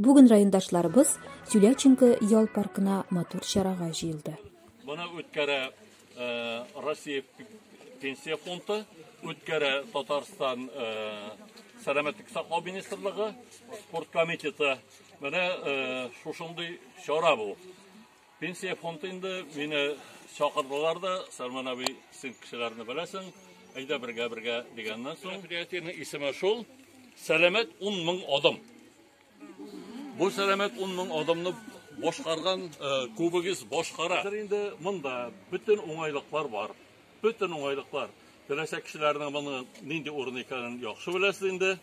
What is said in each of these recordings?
Бүген райондашларыбыз Тюляченко ял паркына матур чарага җыелды. Моны үткәрә э, Россия пенсия фонды, үткәрә Татарстан э, сәламәтлек саклау министрлыгы, спорт комитеты. Менә э, шушындый чара бу. Пенсия фонды инде мине чакырдылар да, Сарман абый, син кешеләрне беләсең, әйдә бергә бергә дигәннән соң. Предприятиенең исеме шул Сәламәт 10 мең адым. Бу сәламәт 10 мең адымны башкарган күбегез башкара. Хәзер инде монда бөтен уңайлыклар бар. Бөтен уңайлыклар. Теләсә кешеләрнең моны нинди урын икәнен яхшы беләсез инде.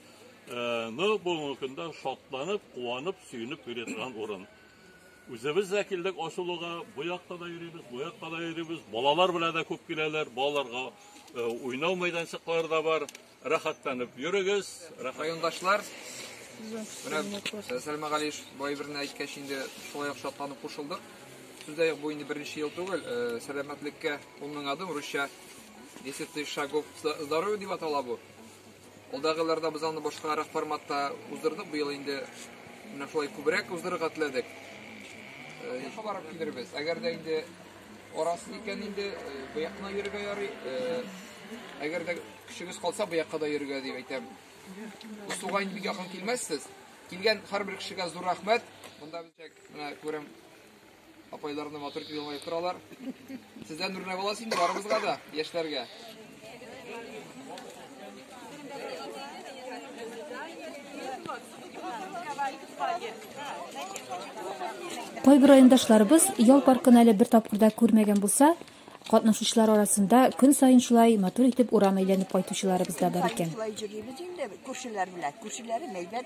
Ну, бүгенге көндә шатланып, куанып, сөенеп йөри торган урын. Үзебез дә килдек ачылуга, бу якта да йөрибез, бу якта да йөрибез. Балалар белән дә күп киләләр, балаларга э, уйнау мәйданчыклары да бар. Рәхәтләнеп йөрегез. Рәхәт... Райондашлар, менә э, Сәлмә Галиш бай берне әйткәч инде шулай ук шатланып кушылдык. Сүздә юк, бу инде беренче ел түгел, э, сәламәтлеккә 10 мең адым, русча 10 тысяч шагов здоровье дип атала бу. Алдагы елларда без аны башкарак форматта уздырдык, быел инде менә шулай күбрәк уздырырга теләдек. Якка барып килербез. Әгәр дә инде арасы икән инде бу якына йөрергә ярый. Әгәр дә көчегез калса бу якка да йөрергә дип әйтәм. Устуга инде бик якын килмәссез. Килгән һәрбер кешегә зур рәхмәт. Монда бит менә күрәм Апайларны матур итеп елмаеп торалар. Сездән үрнәк аласыз инде барыбызга да, яшьләргә. Кайбер райондашларыбыз ял паркын әле бер тапкырда күрмәгән булса, катнашучылар арасында көн саен шулай матур итеп урам әйләнеп кайтучыларыбыз да бар икән. Шулай җөрибез инде күршеләр белән. Күршеләре мәйдән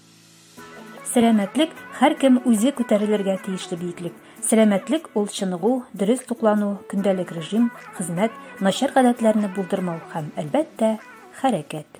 Сәламәтлек һәркем үзе күтәрелергә тиешле биеклек. Сәламәтлек ул чыныгу, дөрес туклану, көндәлек режим, хезмәт, начар гадәтләрне булдырмау һәм, әлбәттә, хәрәкәт.